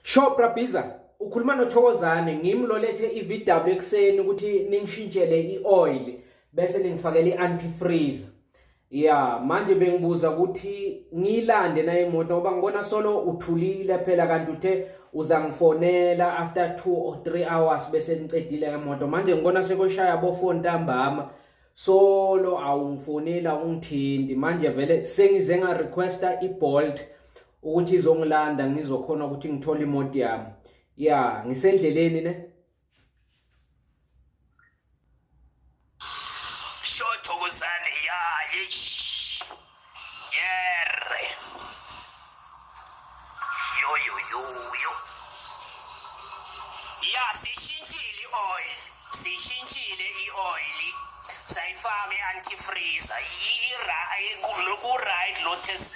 Sho Brabhiza ukhuluma noThokozane ngimi lolethe iVW ekseni ukuthi ningishintshele ioil bese ningifakela iantifreeze. Yeah, manje bengibuza ukuthi ngilande na imoto ngoba ngibona solo uthulile phela kanti uthe uzangifonela after 2 or 3 hours bese ngicedile imoto. Manje ngibona sekoshaya bo 4 ntambama. solo awungifonela ungithinti manje vele sengize nga requesta ibolt ukuthi izongilanda ngizokhona ukuthi ngithole imoto yami ya ngisendleleni ne Yerre. Yo yo yo yo. Ya sishintshile i-oil. Sishintshile i-oil. Sayifake anti-freezer. Ira ku right lo test.